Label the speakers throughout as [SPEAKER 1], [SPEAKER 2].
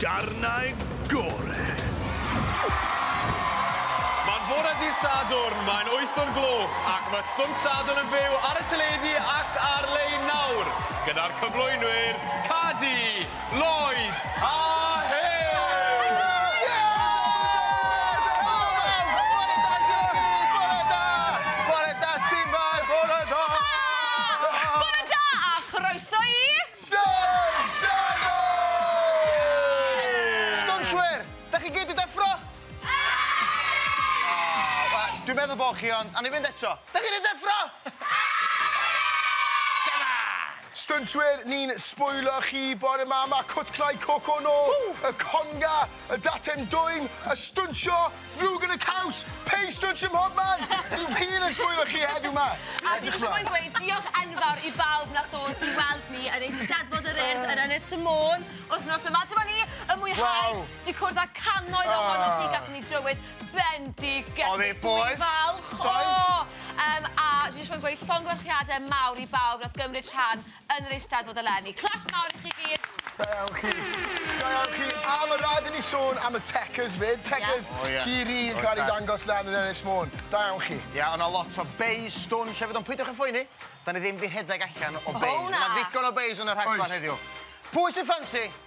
[SPEAKER 1] Darnau gore!
[SPEAKER 2] Mae'n fore dydd Sadwrn, mae'n wyth o'r gloch ac mae Stwnt Sadwrn yn fyw ar y teledu ac ar-lein nawr, gyda'r cyflwynwyr, Cadi, Lloyd a Huws! Bore da a
[SPEAKER 3] chroeso i... Stwnshwyr! Dach chi gyd 'di deffro? Aaaah! Dwi'n meddwl bo' chi ond, awn ni fynd eto. Dach chi 'di deffro?
[SPEAKER 4] Stwnshwyr, ni'n sbwylio chi bore 'ma, ma' cwtlau coco nôl y conga! Y daten dwym, y stwnsio, ddrwg yn y caws, pei stwnsio mhob man! Dwi wir yn sbwylio chi heddiw ma! A dwi eisiau mwyn gweud
[SPEAKER 5] diolch enfawr i bawb nath ddod i weld ni yn Eisteddfod yr Urdd yn Ynys y Môn wythnos yma. Dyma ni yn mwynhau 'di cwrdd â cannoedd ohonoch chi, gatho ni drywydd bendigedig! Oedd e boeth? Dwi'n
[SPEAKER 3] falch! O!
[SPEAKER 5] Yym a dwi eisiau mwyn gweud llongyfarchiadau mawr i bawb nath gymryd rhan Yn yr Eisteddfod eleni. Clap mawr i chi gyd. Da iawn chi.
[SPEAKER 4] Da iawn chi. A ma' raid i ni sôn am y Techers 'fyd. Techers di ri yn cael ei dangos lan yn Ynys Môn. Da iawn chi. Ia, o' 'na lot o
[SPEAKER 3] beis stwn llefyd ond peidiwch â phoeni, 'dan ni ddim 'di rhedeg allan o beis. O na! Ma' 'na ddigon o beis yn y
[SPEAKER 5] rhaglen
[SPEAKER 3] heddiw. Pwy sy ffansi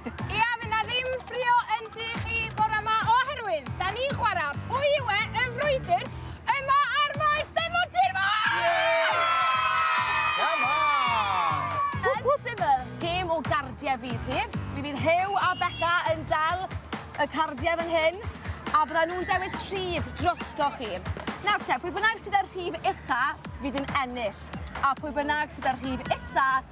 [SPEAKER 3] Ia, fy na ddim
[SPEAKER 6] ffrio yn tŷ chi bore yma oherwydd da ni'n chwarae pwy yw e yn frwydr yma ar Maes Steddfod Sir Fôn!
[SPEAKER 3] Come on! Yn syml,
[SPEAKER 5] gêm o gardiau fydd hi. Mi fydd Huw a Beca yn dal y cardiau fan hyn a byddan nhw'n dewis rhif drosto chi. Nawr te, pwy bynnag sydd â'r rhif ucha fydd yn ennill a pwy bynnag sydd â'r rhif isa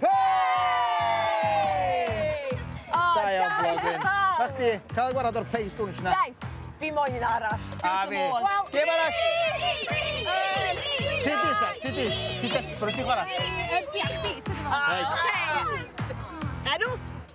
[SPEAKER 5] Hei!
[SPEAKER 3] O, da iawn, blodyn. A chdi, cael ei gwarad o'r pei stwnsh na. Reit, fi moyn un
[SPEAKER 5] arall. A fi. Wel,
[SPEAKER 3] gem arall. Ti di, ta, ti di. Ti desperate i chwarae. Yy, diolch, ti. Reit.
[SPEAKER 5] Enw?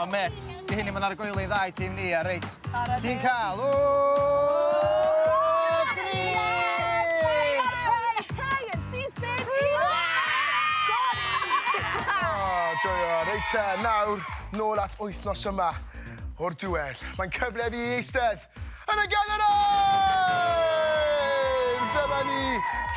[SPEAKER 6] O met, di hyn i
[SPEAKER 3] fod ar y goeli dda i tîm ni, a reit, ti'n cael...
[SPEAKER 4] Joio, reit te, nawr, nôl at wythnos yma o'r duel. Mae'n cyfle fi i eistedd Yn y ganol nawr! Dyma ni,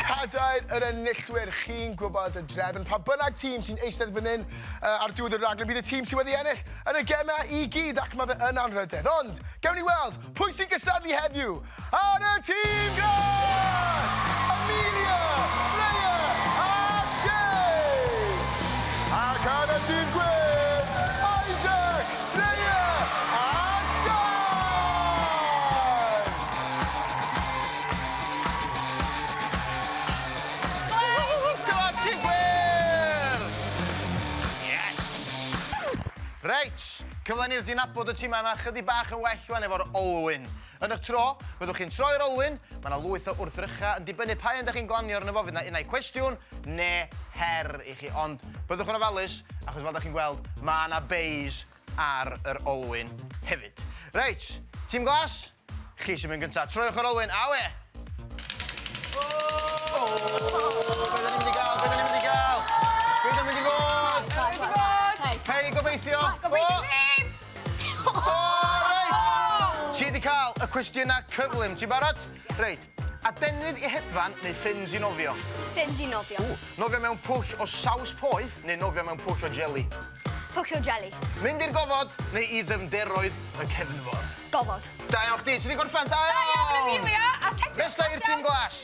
[SPEAKER 4] cadair yr enillwyr. Chi'n gwybod y drefn, pa bynnag tîm sy'n eistedd fan hyn uh, ar diwedd y raglen, bydd y tîm sydd wedi ennill yn y gemau i gyd, ac mae fe yn anrhydedd. Ond, gewn ni weld, pwy sy'n gystadlu heddiw ar y tîm glas! Amelia, Freya a Shay! Ac ar y tîm gwyn, Isaac, Freya
[SPEAKER 3] a Siân! Whoo! Gwlad ti wir! Yes! Reit, cyfle i ni ddod i nabod y timau 'ma chydig bach yn well wan efo'r olwyn. Yn eich tro, byddwch chi'n troi yr olwyn, mae yna lwyth o wrthrychau yn dibynnu pa un da chi'n glanio arno fo, fydd yna unai cwestiwn neu her i chi, ond byddwch yn ofalus achos fel da chi'n gweld mae yna beis ar yr olwyn hefyd. Reit, tîm glas, chi sy'n mynd gyntaf, troiwch yr olwyn, awe! Peidio ddim! Gobeithio ddim! O! Reit! Ti 'di cael y cwestiyna cyflym. Ti'n barod? Reit. Adenydd i hedfan neu ffyns i nofio? Ffyns i nofio.
[SPEAKER 7] Ww! Nofio mewn pwll
[SPEAKER 3] o saws poeth neu nofio mewn pwll o jeli? Pwll o jeli.
[SPEAKER 7] Mynd i'r gofod
[SPEAKER 3] neu i ddyfnderoedd y cefnfor? Gofod. Da iawn
[SPEAKER 7] chdi. Ti 'di
[SPEAKER 3] gorffen. Da iawn! Da iawn Amelia! A teclyn Nesa i'r tim glas.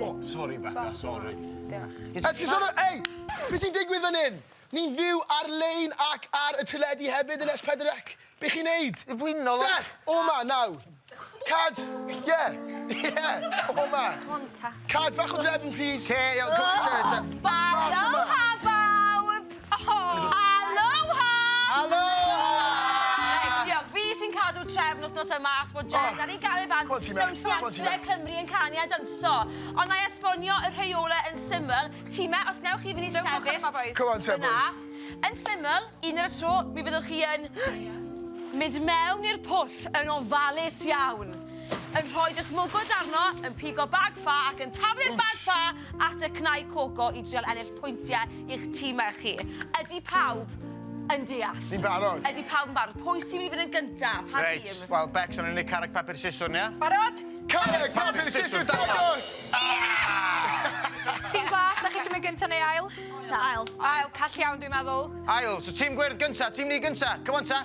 [SPEAKER 4] O, sori, Becca, sori. Diolch. Esgusodwch,
[SPEAKER 6] ei!
[SPEAKER 4] Be sy'n digwydd fan hyn? Ni'n fyw ar-lein ac ar y teledu hefyd yn S4 C. Be chi'n neud? I blino fo. Steph,
[SPEAKER 3] o ma, naw.
[SPEAKER 4] Cad, ie, ie, o ma. Cad bach o drefn, please. Ce, iawn, come on, Sarah,
[SPEAKER 3] ta. Bach o
[SPEAKER 6] hafawb! Aloha!
[SPEAKER 3] Aloha! Reit,
[SPEAKER 5] diolch. Fi sy'n cadw trefn wythnos yma achos bod Jed ar ei gael ei fans mewn theatre
[SPEAKER 4] Cymru
[SPEAKER 5] yn canu a danso. Ond na i esbonio y rheolau yn syml. Time, os newch chi fynd i sefyll... Come on te, boys.
[SPEAKER 4] Yn syml,
[SPEAKER 5] un ar y tro, mi fyddwch chi yn mynd mewn i'r pwll yn ofalus iawn, yn rhoi eich mwgwd arno, yn pigo bag ffa ac yn taflu'r bag ffa at y cnau coco i drial ennill pwyntiau i'ch timau chi. Ydy pawb yn deall? Ni'n barod. Ydy pawb
[SPEAKER 4] yn barod? Pwy
[SPEAKER 5] sy'n mynd i fynd yn gyntaf? Pa Reit, tîm? wel, Bex, o'n
[SPEAKER 3] i'n neud
[SPEAKER 5] carreg
[SPEAKER 3] papur siswrn, ia? Barod? Carreg
[SPEAKER 6] papur
[SPEAKER 4] siswrn dangos!
[SPEAKER 6] Tîm glas, da chi eisiau mynd gyntaf neu ail? Ail. Ail,
[SPEAKER 7] call iawn
[SPEAKER 6] dwi'n meddwl. Ail, so tîm gwyrdd
[SPEAKER 3] gyntaf, tîm ni gyntaf. Come on ta.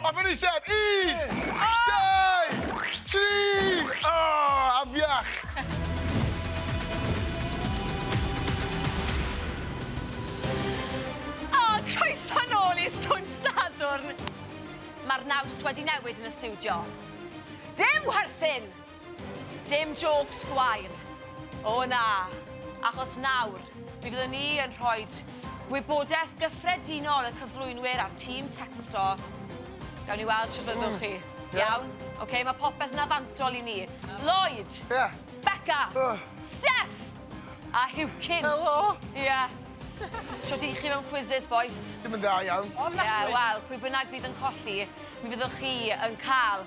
[SPEAKER 4] A fy nised! Un! Dau! Tri! O! Afiach!
[SPEAKER 5] O! Croeso nôl i Stwnsh Sadwrn! Mae'r naws wedi newid yn y stiwdio. Dim chwerthin! Dim jôcs gwair. O na, achos nawr, mi fyddwn ni yn rhoi gwybodaeth gyffredinol y cyflwynwyr a'r tîm tecsto. Gawn ni weld sut fyddwch chi. Mm. Iawn? Oce, okay, mae popeth yna fantol i ni. Lloyd! Yeah.
[SPEAKER 4] Becca! Uh.
[SPEAKER 5] Steph! A Hewcyn! Helo! Ie. Yeah. Sut i chi mewn quizzes, boys? Dim yn dda iawn.
[SPEAKER 4] Ie, yeah, wel, pwy
[SPEAKER 5] bynnag fydd yn colli, mi fyddwch chi yn cael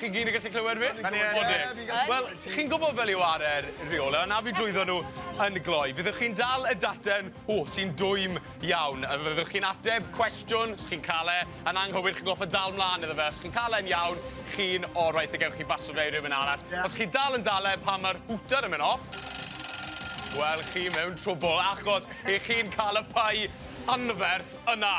[SPEAKER 5] Chi
[SPEAKER 2] gyd yn gallu clywed fi? Yn gwybod,
[SPEAKER 3] Wel,
[SPEAKER 2] chi'n gwybod fel yw ar yr rheolau, na fi drwyddo nhw yn gloi. Fyddwch chi'n dal y daten, o, sy'n dwym iawn. A fyddwch chi'n ateb cwestiwn, os chi'n cael e, yn anghywir, chi'n goffa dal mlaen iddo fe. Os chi'n cael e'n iawn, chi'n orau, te gewch chi basio fe i rhywun arall. Yeah. Os chi'n dal yn dal e, pan mae'r hwter yn mynd off, wel, chi mewn trwbl, achos i chi'n cael y pai anferth yna.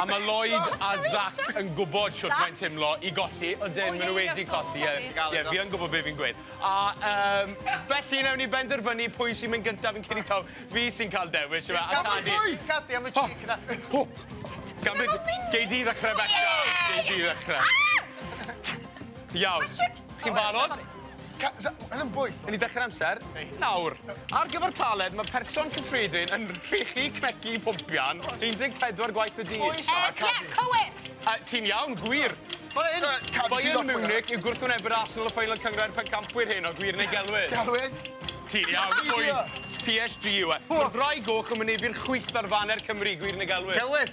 [SPEAKER 3] A mae Lloyd
[SPEAKER 2] a Zac yn gwybod shwt mae'n timlo i golli. Ydyn, maen nhw wedi colli. Ie, ie, fi yn gwybod be fi'n gweud. A um, felly, newn ni benderfynu pwy sy'n mynd gyntaf yn cyn i taw. Fi sy'n cael dewis, yma. A Cadi. Cadi am y cheek
[SPEAKER 3] na. Ho! Gan byd,
[SPEAKER 2] gei di ddechrau, Becca. Gei di ddechrau. Iawn. Chi'n barod? Ca- sa- ma' hyn
[SPEAKER 4] yn bwyll. Wn i dechre'r amser.
[SPEAKER 2] Nawr, ar gyfer taled, mae person cyffredin yn rhechu cneci pwmpian 14 gwaith y dydd. Oes! Yy, ie, cywir!
[SPEAKER 6] Yy, ti'n iawn,
[SPEAKER 2] gwir. Bayern... Yy, cadw ti off Bayern mwy na. Munich yw gwrthwynebu'r Arsenal y ffeinal cynghrair pencampwyr heno, gwir neu gelwydd? Gelwydd.
[SPEAKER 4] Ti'n iawn,
[SPEAKER 2] pwy? PSG yw e. Ma'r ddraig goch yn mynebu'r chwith ar faner Cymru, gwir neu gelwydd? Gelwydd.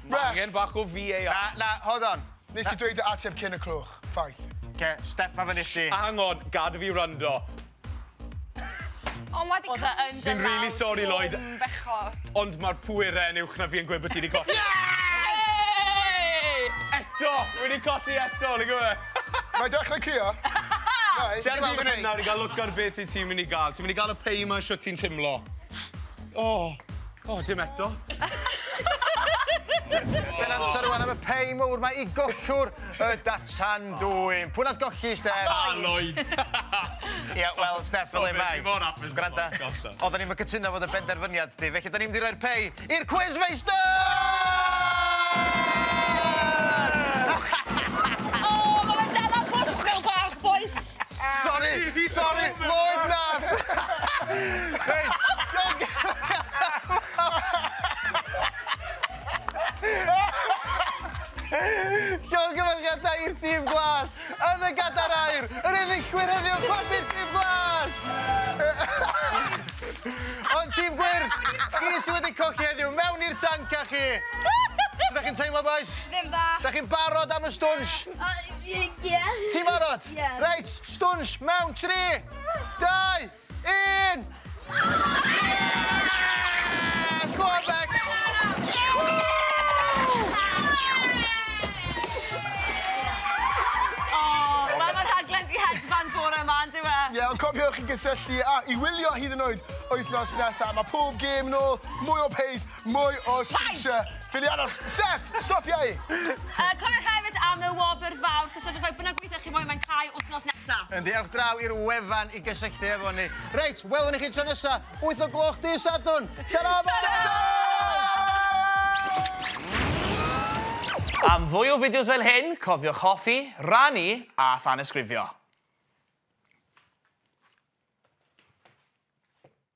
[SPEAKER 5] Ma' angen bach o
[SPEAKER 2] VAR. Na, na, hold on.
[SPEAKER 3] Nes ti dweud ateb
[SPEAKER 4] cyn y clwch. Ffaith. Oce, step ma
[SPEAKER 3] fyny chdi. Hang on, gad fi
[SPEAKER 2] wrando. O,
[SPEAKER 6] ma 'di cymryd... Odd e yn dy law di o yn bechod. Fi'n rili
[SPEAKER 5] sori,
[SPEAKER 2] Lloyd. Ond
[SPEAKER 5] ma'r pwere
[SPEAKER 2] yn uwch na fi yn gweud bo' ti 'di colli. Yes! Yay! Eto! Wi 'di colli eto, nag yw e? Mae 'i dechre
[SPEAKER 4] crio. Reit.
[SPEAKER 2] Dere di fyn 'yn nawr i ga'l look ar beth wyt ti myn' i ga'l. Ti myn' i ga'l y pei 'ma shwt ti'n timlo. O! O, dim eto.
[SPEAKER 3] Sgen amser rwan am y pei mowr mae i gollwr y datan dwyn. Pwy nath golli, Steff? A, Lloyd. Ia, wel, Steff, fel ei mae. Gwranda,
[SPEAKER 2] oedden
[SPEAKER 3] ni'n cytuno fod y benderfyniad di, felly da ni'n mynd i roi'r pei i'r Quizmeister!
[SPEAKER 5] Sori!
[SPEAKER 3] Sori! Lloyd, na! Reit. Llongyfarchiadau i'r tîm glas yn y gadar air, yr enillwyr heddiw, clapir tîm glas! Ond tîm gwyrdd, chi sydd wedi cochi heddiw, mewn i'r tanc â chi! Ydych chi'n teimlo, boys? Ddim dda. Ydych chi'n
[SPEAKER 5] barod am y
[SPEAKER 3] stwnsh?
[SPEAKER 8] Ie! Ti'n barod?
[SPEAKER 3] Ie. Reit,
[SPEAKER 8] stwnsh
[SPEAKER 3] mewn 3, 2, 1! Yes! Go on, Bex! O, wel
[SPEAKER 5] ma' rhaglen di hedfan bore ma, on'd yw e? Ie, ond cofiwch i
[SPEAKER 4] gysylltu a i wylio hyd yn oed wythnos nesa. Ma' pob gêm nôl, mwy o pace, Mwy o sgyrsia. Ffili aros. Steff, stopia i! A cofiwch hefyd
[SPEAKER 5] am y wobr fawr, cyswlltwch â fi b'nag weithio chi moyn mae'n cau wythnos nesa. Yndi, ewch draw i'r
[SPEAKER 3] wefan i gysylltu efo ni. Reit, welwn i chi tro nesa, wyth o gloch dydd Sadwrn. Ta-ra bobol!
[SPEAKER 9] Am fwy o fideos fel hyn, cofiwch hoffi, rannu a thanysgrifio.